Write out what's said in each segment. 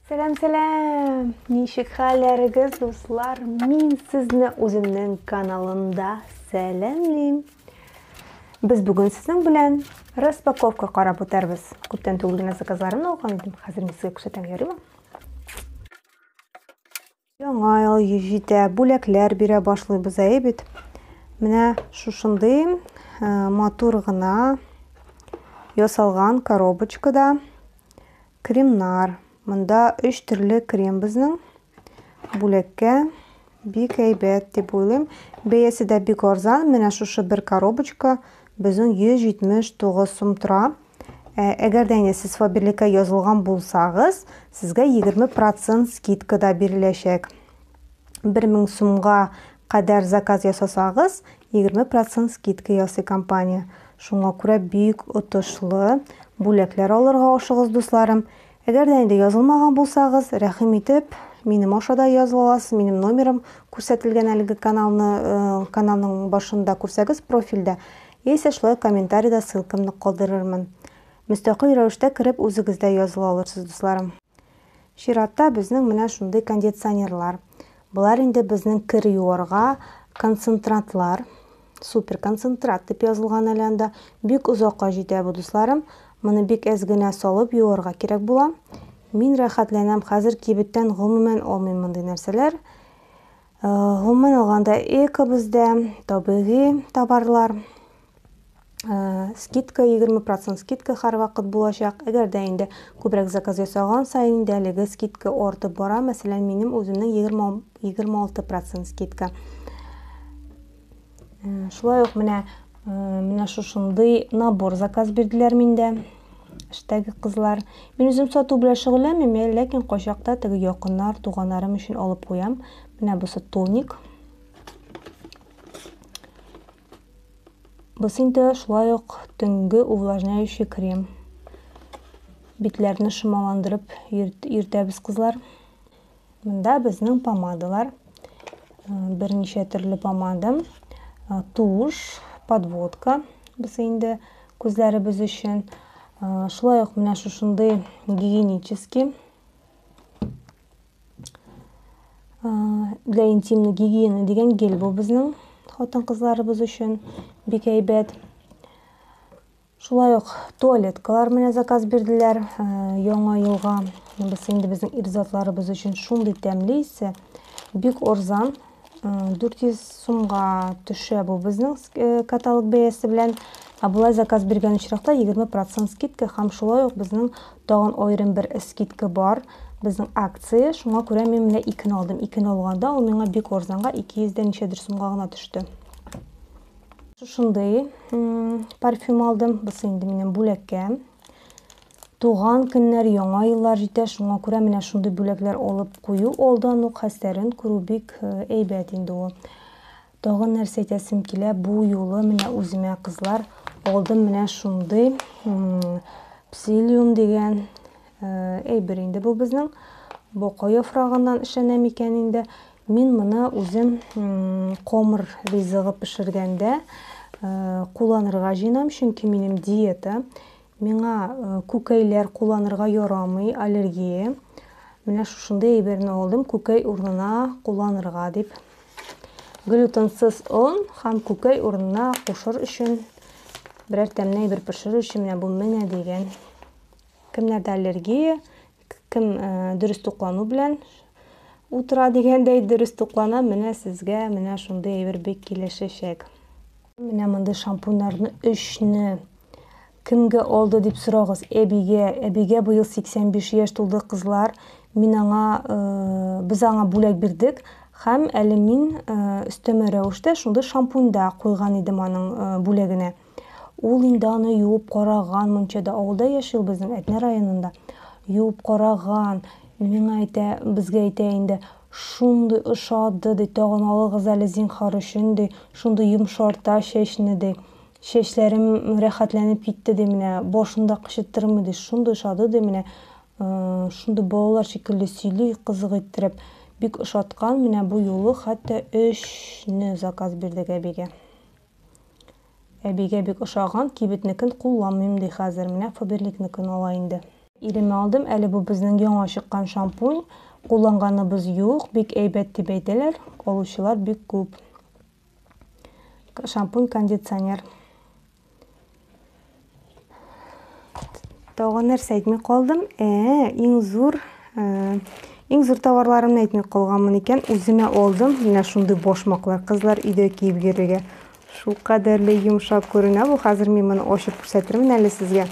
Сәлам, сәлам! Ничек хәлләрегез, дуслар? Мин сезне үземнең каналымда сәламлим. Без бүген сезнең белән распаковка карап үтәрбез. Күптән түгел генә заказларын алган идем. Хәзер мин сезгә күрсәтәм, ярыймы? Яңа ел җитә, бүләкләр бирә башлыйбыз, әйе бит? Менә шушындый э, матур гына ясалган коробочкада кремнар. Монда өч төрле крем безнең бүләккә бик әйбәт дип уйлыйм. Бәясе дә бик арзан. Менә шушы бер коробочка безнең 179 сум тора. Ә, әгәр дә инде сез Фаберликка язылган булсагыз, сезгә 20% скидка да биреләчәк. 1000 сумга кадәр заказ ясасагыз, 20% скидка ясый компания. Шуңа күрә бик отышлы бүләкләр алырга ашыгыз, дусларым. Әгәр дә инде язылмаган булсагыз, рәхим итеп, минем аша да языла аласыз, минем номерым күрсәтелгән әлеге каналны, э, каналның башында күрсәгез профильдә. Яисә шулай комментарида ссылкамны калдырырмын. Мөстәкыйль рәвештә кереп үзегез дә языла алырсыз, дусларым. Чиратта безнең менә шундый кондиционерлар. Болар инде безнең кер юарга концентратлар. Супер концентрат дип язылган әле анда. Бик озакка җитә бу, дусларым. Моны бик әз генә салып юарга кирәк була. Мин рәхәтләнәм, хәзер кибеттән гомумән алмыйм мондый нәрсәләр. Гомумән алганда, эко бездә табигый товарлар. Скидка 20% скидка һәрвакыт булачак. Әгәр дә инде күбрәк заказ ясаган саен инде әлеге скидка артып бара. Мәсәлән, минем үземнең 20 26% скидка. Шулай ук менә менә шушындый набор заказ бирделәр миндә. Эштәге кызлар. Мин үзем сату белән шөгыльләнмим, ләкин кайчакта теге якыннар, туганнарым өчен алып куям. Менә бусы тоник. Бусы инде шулай ук төнге увлажняющий крем. Битләрне шомаландырып йөртәбез кызлар. Монда безнең помадалар. Берничә төрле помада. Туш, подводка. Бусы инде күзләребез өчен. Шулай ук менә шушындый гигиенический для интимной гигиены дигән гель бу безнең хатын-кызларыбыз өчен бик әйбәт. Шулай ук туалеткалар менә заказ бирделәр э, яңа елга. Без инде безнең ирзатларыбыз өчен шундый тәмле исә, бик орзан 400 э, сумга төшә бу безнең э, каталог бәясе белән. Ә болай заказ биргән очракта 20% скидка һәм шулай ук безнең тагын аерым бер скидка бар. Безнең акция, шуңа күрә мин менә икене алдым. Икене алганда ул миңа бик орзанга 200 дә ничәдер сумга гына төште. Шушындый парфюм алдым. Бусы инде минем бүләккә. Туган көннәр, яңа еллар җитә, шуңа күрә менә шундый бүләкләр алып кую алдан ук хәстәрен күрү бик э, әйбәт инде ул. Тагын нәрсә әйтәсем килә, бу юлы менә үземә кызлар алдым менә шундый псилиум дигән э, әйбер инде бу безнең. Бока яфрагыннан эшләнә микән инде? Мин моны үзем комыр ризыгы пешергәндә кулланырга җыенам, чөнки минем диета. Миңа күкәйләр кулланырга ярамый, аллергия. Менә шушындый әйберне алдым, күкәй урынына кулланырга дип. Глютенсыз он һәм күкәй урынына кушыр өчен берәр тәмле әйбер пешерү өчен менә бу менә дигән. Кемнәрдә аллергия, Кем дөрес туклану белән утыра дигәндәй дөрес туклана, менә сезгә менә шундый әйбер бик килешәчәк. Менә мондый шампуньнарны өчне кемгә алды дип сорагыз. Әбигә, әбигә быел 85 яшь тулды, кызлар. Мин аңа, без аңа бүләк бирдек һәм әле мин өстәмә рәвештә шундый шампуньда куйган идем аның бүләгенә. Ул инде аны юып караган мунчада. Авылда яши ул безнең Әтнә районында. Юып караган. Миңа әйтә, безгә әйтә инде. Шундый ошады, ди, тагын алыгыз әле зинхар өчен, ди. Шундый йомшарта чәчне, ди. Чәчләрем рәхәтләнеп китте, ди, менә. Башын да кычыттырмый, ди. Шундый ошады, ди, менә. Шундый балалар шикелле сөйли, кызык иттереп. Бик ошаткан, менә бу юлы хәтта өчне заказ бирдек әбигә. Әбигә бик ошаган, кибетнекен кулланмыйм ди хәзер, менә Фаберликныкын ала инде. Иремә алдым, әле бу безнең яңа чыккан шампунь, кулланганыбыз юк, бик әйбәт дип әйтәләр, алучылар бик күп. Шампунь-кондиционер. Тагын нәрсә әйтми калдым? Ә, иң зур э, иң зур товарларымны әйтми калганмын икән. Үземә алдым менә шундый башмаклар. Кызлар өйдә киеп йөрергә. Шул кадәрле йомшак күренә бу. Хәзер мин моны ачып күрсәтермен әле сезгә.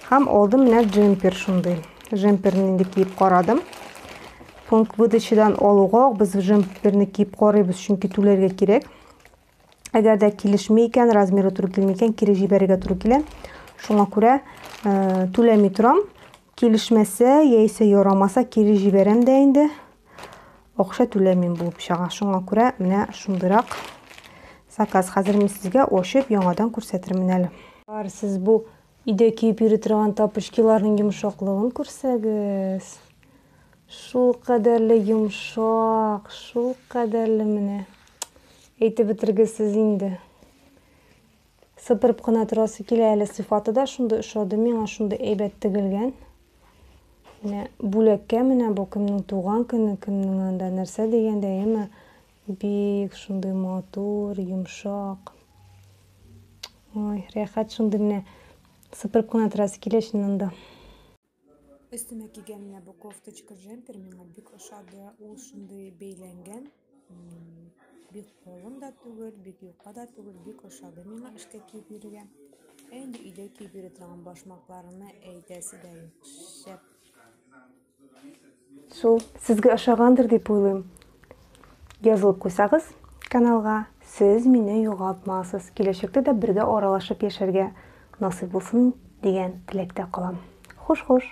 Һәм алдым менә джемпер шундый. Джемперне инде киеп карадым. Пункт выдачадан алуга без джемперне киеп карыйбыз, чөнки түләргә кирәк. Әгәр дә килешми икән, размеры туры килми икән, кире җибәрергә туры килә. Шуңа күрә э, түләми торам. Килешмәсә, яисә ярамаса, кире җибәрәм дә инде. Акча түләмим булып чыга. Шуңа күрә менә шундыйрак заказ. Хәзер мин сезгә ачып, яңадан күрсәтермен әле. Бар, сез бу Өйдә киеп йөри торган тапочкиларның йомшаклыгын күрсәгез. Шул кадәрле йомшак, шул кадәрле менә. Әйтеп бетергесез инде. Сыпырып кына торасы килә әле сыйфаты да шундый ошады миңа, шундый әйбәт тегелгән. Менә бүләккә менә бу кемнең туган көне, кемнең анда нәрсә дигәндә, әйеме? Бик шундый матур, йомшак. Ой, рәхәт шундый менә сыпырып кына торасы килә чыннан да. Өстемә кигән менә бу кофточка джемпер миңа бик ошады. Ул шундый бәйләнгән. Бик калын да түгел, бик юка да түгел, бик ошады миңа эшкә киеп йөрергә. Ә инде өйдә киеп йөри торган башмакларны әйтәсе дә юк. Шәп. Су. Сезгә ошагандыр дип уйлыйм. Язылып куйсагыз каналга, сез мине югалтмасыз. Киләчәктә дә бергә аралашып яшәргә насыйп булсын дигән теләктә калам. Хуш-хуш!